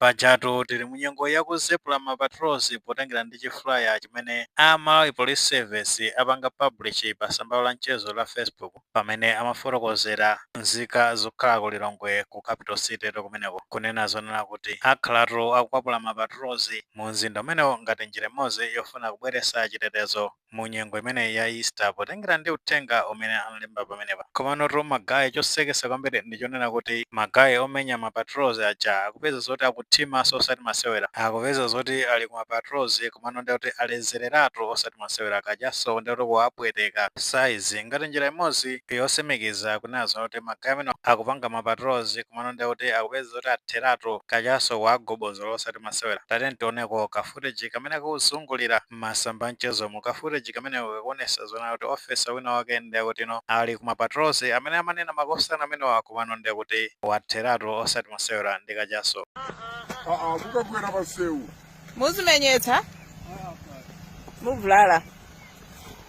Pajatu tili mu nyengo yakuzepula ma patrols potengera ndi chi flyer chimene a Malawi Police Service apanga publish pa samba lawo la mchezo la Facebook pamene amafotokozera nzika zokhala ku Lilongwe ku capital city to kumeneko kunena zonena kuti akhalatu akukwapula ma patrols mu mzinda umenewo ngati njira imodzi yofuna kubweretsa chitetezo mu nyengo imeneyi ya Easter potengera ndi uthenga umene analemba pamenepa. Komanotu ma guy chosekesa kwambiri ndi chonena kuti ma guy omenya ma patrols aja akupeza zoti akuthimaso osati masewera. Akupeza zoti ali ku ma patrols komano ndiye kuti alezeleratu osati masewera. Kachaso ndiye kuti kuwapweteka size ngati njira imodzi yosimikiza kunena zoti ma guy amenewa akupanga ma patrols komano ndiye kuti akupeza zoti atheratu. Kachaso kuwagobozola osati masewera. Tatiyeni tioneko ka footage kamene kakuzungulira. mmasamba amchezomu ka footage kameneko kakuonesa zoona kuti officer wina wake nde akutino ali ku ma patrols amene amanena makosana amenewa aja komano nde kuti watheratu osati masewera ndi kachaso. Mukagwera pasewu Muzimenyetsa? Muvulala.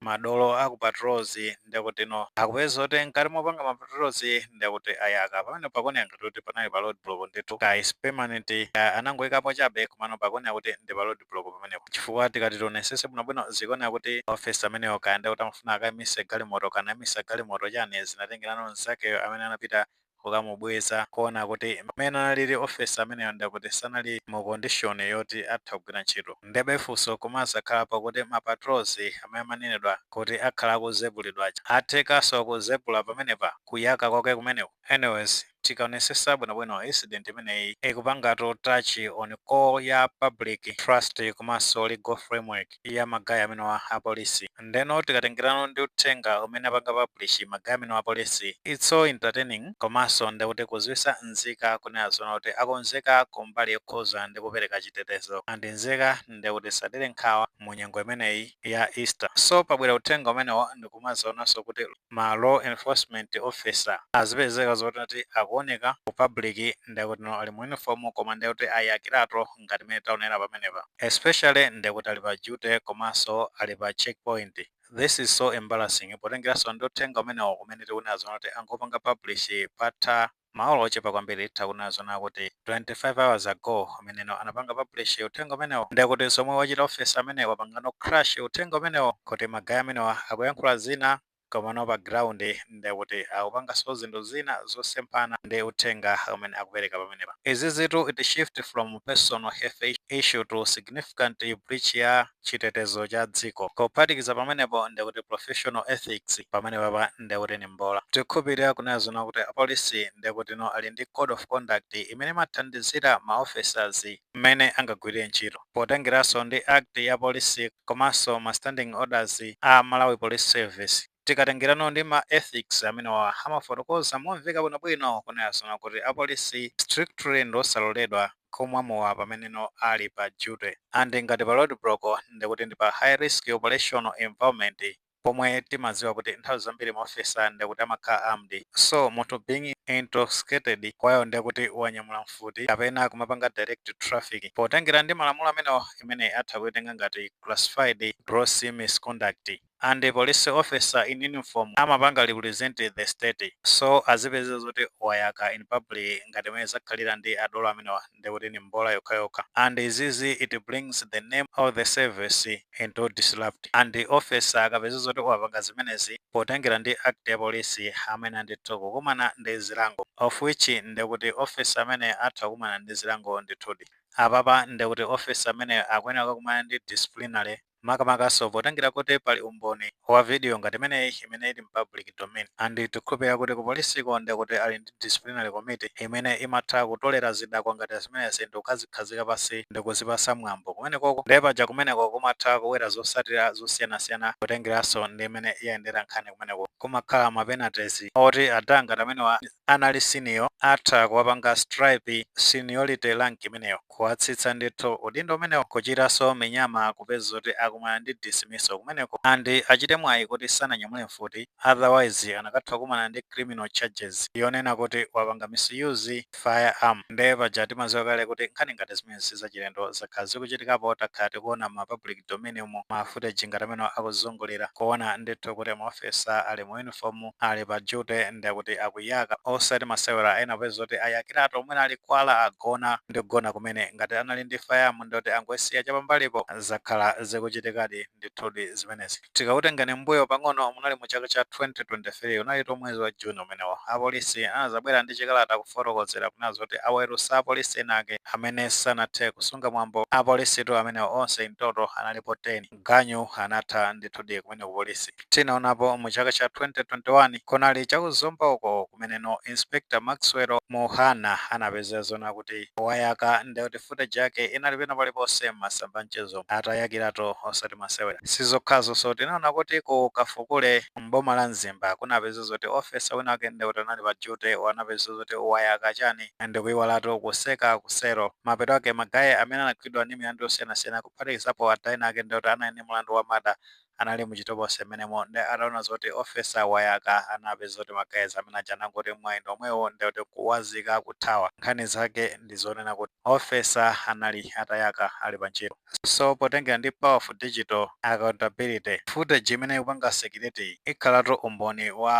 madolo aku patrols ndekutino akupezeka mkati mopanga ma patrols ndekuti ayaka pamene pakuoneka ngati kuti panali pa roadblock ndithu kaya is permanent kaya anangoikapo chabe komano pakuoneka kuti ndi pa roadblock pamenepo chifukwa tikati tionesese bwinobwino zikuoneka kuti officer ameneyo kaya ndekuti amafuna akaimise galimoto kana aimisa galimoto chani zinatengerano mnzakeyo amene anapita kukamubweza kuona kuti mmene analili officer ameneyo ndekuti sanali mu condition yoti atha kugwira ntchito ndebe funso kumazakhala pakuti ma patrols amene amanenedwa kuti akhala akuzepulidwa aja athekaso kuzepula pamenepa? kuyaka kwake kumeneku? anyways tikaonesesa bwino bwino incident imeneyi ikupangatu touch on core ya public trust komanso legal framework. ya ma guy amenewa a police ndeno tikatengerano ndi uthenga umene apanga publish ma guy amenewa a police it's so entertaining komanso ndekuti kuziwisa nzika kunena zoona kuti akonzeka ku mbali yokhuza ndi kupereka chitetezo and nzika ndekuti zisadere nkhawa mu nyengo imeneyi ya Easter so pabwera uthenga umenewo ndikumazaonanso kuti ma law enforcement officer azipezeka zoti akuoneka ku public ndekutino ali mu uniform koma ndekuti ayakiratu ngati mmene taonera pamenepa especially nde kuti ali pa duty komanso ali pa check point this is so embarrassing potengeranso ndi uthenga umenewo umene tikunena zona kuti angopanga publish patha maola ochepa kwambiri titha kunena zona kuti 25 hours ago mmeneno anapanga publish uthenga umenewo nde kuti zomwe wachita officer ameneyi wapangano crash uthenga umenewo kuti ma guy amenewa akuyankhula zina Komano pa ground ndekuti akupangaso zinthu zina zosemphana ndi uthenga umene akupereka pamenepa. Izizitu it shift from personal health issue to significant breach ya chitetezo cha dziko. Kuphatikiza pamenepo ndekuti professional ethics pamenepapa ndekuti ni mbola. Tikukhulupirira kunena zoona kuti apolisi ndekutino ali ndi code of conduct imene imathandizira ma officers. mmene angagwirire ntchito potengeranso ndi act ya polisi komanso ma standing orders a Malawi Police Service. Tikatengerano ndi ma ethics amenewa amafotokoza momveka bwinobwino kunena zoona kuti apolisi strictly ndi osaloledwa kumwa mowa pameneno ali pa duty and ngati pa roadblock ndekuti ndi pa high risk operational environment. pomwe timaziwa kuti nthawi zambiri maofficer ndekuti amakhala armed so munthu being intoxicated kwayo ndekuti wanyamula mfuti kapena kumapanga direct traffic potengera ndi malamulo amenewo imeneyi atha kuitenga ngati classified gross misconduct and police officer in uniform amapanga represent the state so azipezeka zoti wayaka in public ngati mmene zakhalira ndi adolo amenewa ndi kuti ni mbola yokhayokha and izizi it brings the name of the service into disrupt and officer akapeza zoti wapanga zimenezi potengera ndi act ya polisi amene ndithu kukumana ndi zilango of which ndi kuti officer amene atha kukumana ndi zilango ndithudi apapa ndi kuti officer ameneyo akuyenera kukakumana ndi disciplinary makamakanso potengera kuti pali umboni wa video ngati imeneyi imene ili m'public domain and tikukhulupirira kuti ku polisiko ndekuti ali ndi disciplinary committee imene imatha kutolera zidakwa ngati zimenezi ndikukazikhazika pansi ndikuzipatsa mwambo kumenekoko nde paja kumeneko kumatha kubwera zosatira zosiyanasiyana kutengeranso ndi mmene yayendera nkhani kumeneko kumakhala ma penalties oti ada ngati amenewa anali senior atha kuwapanga strip seniority rank imeneyo. kuwatsitsa ndithu udindo umenewo kuchitanso minyama kupeza kuti akumana ndi dismissal kumeneko and achite mwayi kuti sananyamule mfuti otherwise anakatha kukumana ndi criminal charges yonena kuti wapanga misuse firearm nde paja timaziwa kale kuti nkhani ngati zimenezi sizachilendo zakhala zikuchitikapo takhala tikuona mma public domain mu ma footage ngati amenewa akuzungulira kuona ndithu kuti ma officer ali mu uniform ali pa duty nde kuti akuyaka osati masewera ena popeza kuti ayakiratu mwina ali kwala agona ndi kugona kumene ngati anali ndi firearm nde kuti angoisiya cha pambalipo zakhala zikuchitikadi ndithudi zimenezi tikakutengani m'mbuyo pang'ono munali mu chaka cha 2023 unalitu mwezi wa June umenewo apolisi anazabwera ndi chikalata kufotokozera kunena zoti aweruza apolisi ena ake amene sanathe kusunga mwambo apolisitu amenewo onse in total analipo 10 ganyu anatha ndithudi kumene ku polisi tinaonapo mu chaka cha 2021 kunali cha ku zomba uko kumene no inspector maxwell muhana anapezeka zonena kuti wayaka ndekuti footage yake inali pena paliponse m'masamba a mchezo atayakiratu osati masewera sizokhazo so tinaona kuti ku kafukule m'boma la mzimba kunapeza zoti ofesa wina wake ndekuti anali pa duty anapeza zoti wayaka chani ndikuiwalatu kutseka ku cell Mapeto ake, ma guy, amene anagwidwa ndi milandu yosiyanasiyana kuphatikizapo wina wake ndekuti anali ndi mulandu wa murder, anali mu chitolokosi mmenemo nde ataona zoti officer wayaka anapeza zoti ma guys amene aja anangoti mwayi ndi womwewu nde kuti kuliwazika kuthawa. Nkhani zake ndi zonena kuti officer anali atayaka ali pa ntchito. So potengera ndi powerful digital accountability, footage imene ikupanga circulate-yi ikhalatu umboni wa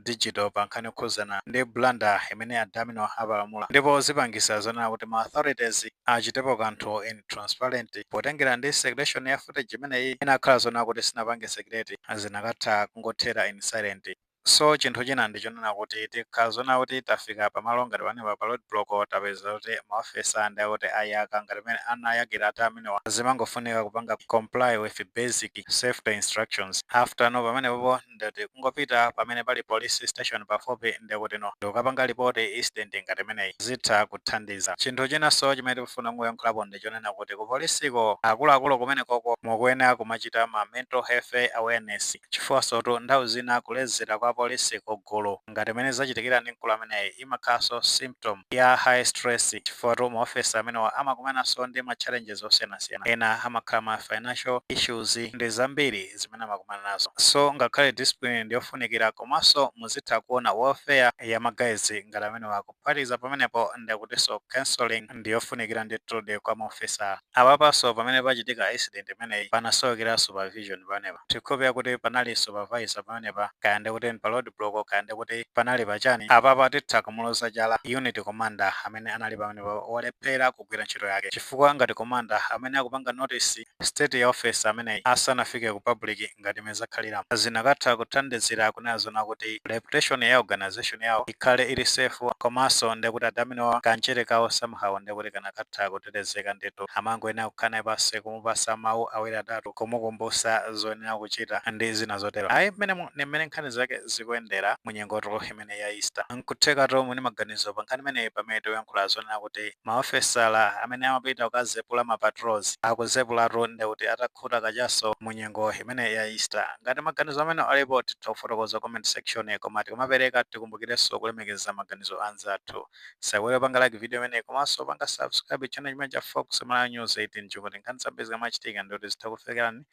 digital pa nkhani yokhudzana ndi blunder imene adami nawo apalamula ndipo zipangitsa zonena kuti ma authorities achitepo kanthu in transparent potengera ndi circulation ya footage imeneyi inakakhala zonena kuti sinapange circulate zinakatha kungothera in silent. So chinthu china ndi chonena kuti tikakhala zonena kuti tafika pa malo ngati panepa pa road block tapeza zoti ma officer ndekuti ayaka ngati mmene anayakira adi amenewa zimangofunika kupanga comply with basic safety instructions after-no pamenepopo ndikuti kungopita pamene pali police station pafupi ndikuti no ndikukapanga report incident ngati imeneyi zitha kuthandiza. Chinthu chinanso chimene tikufuna kuyankhulapo ndi chonena kuti ku policeko akuluakulu kumenekoko mukuyenera kumachita ma mental health awareness. Chifukwansotu nthawi zina kulezera kwa apolisi ku gulu ngati mmene zachitikira ndi mkulu ameneyi imakhalanso symptom ya high stress chifukwa-tu ma officer amenewa amakumananso ndi ma challenges osiyanasiyana ena amakhala ma financial issues ndi zambiri zimene amakumana nazo so ngakhale discipline ndiyofunikira komanso muzitha kuona welfare ya ma guys ngati amenewa ku Kuphatikiza pamenepo ndekutinso counselling ndiyofunikira ndithudi kwa ma officer. Apapanso pamene pachitika incident imeneyi panasowekera supervision pamenepa. Tikhulupilira kuti panali supervisor pamenepa kaya ndekuti pa roadblock kaya ndekuti panali pachani apapa titha kumuloza chala unit commander amene anali pamenepa walephera kugwira ntchito yake chifukwa ngati commander amene akupanga notice state ya officer ameneyi asanafike ku public ngati mmene zakhaliramu zinakatha kuthandizira kunena zonena kuti reputation ya organization yawo ikhale ili safe komanso ndekuti adaminowa ka mchere kawo somehow ndekuti kanakatha kutetezeka ndithu. Amangoyenera kukhala naye pansi kumupatsa mawu awiri atatu kumukumbutsa zoyenera kuchita ndi zina zotero. Ayi mmenemu ndi mmene nkhani zake zikuyendera mu nyengotu imeneyi ya Easter. Nkuthekatu muli ndi maganizo pa nkhani imeneyi pamene tikuyankhula zonena kuti Maofesala amene amapita kukazepula ma patrols akuzepulatu ndekuti atakhuta kachaso mu nyengo imeneyi ya Easter. Ngati maganizo amene alipo titha kufotokoza comment section koma tikamapeleka tikumbukilenso kulemekeza maganizo anzathu. Tisaiwale kupanga like video imeneyi komanso kupanga subscribe channel chimenechi cha Fox Malawi News 18 kuti nkhani zambiri zikamachitika ndekuti zitha kukufikilani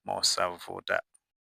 mosavuta.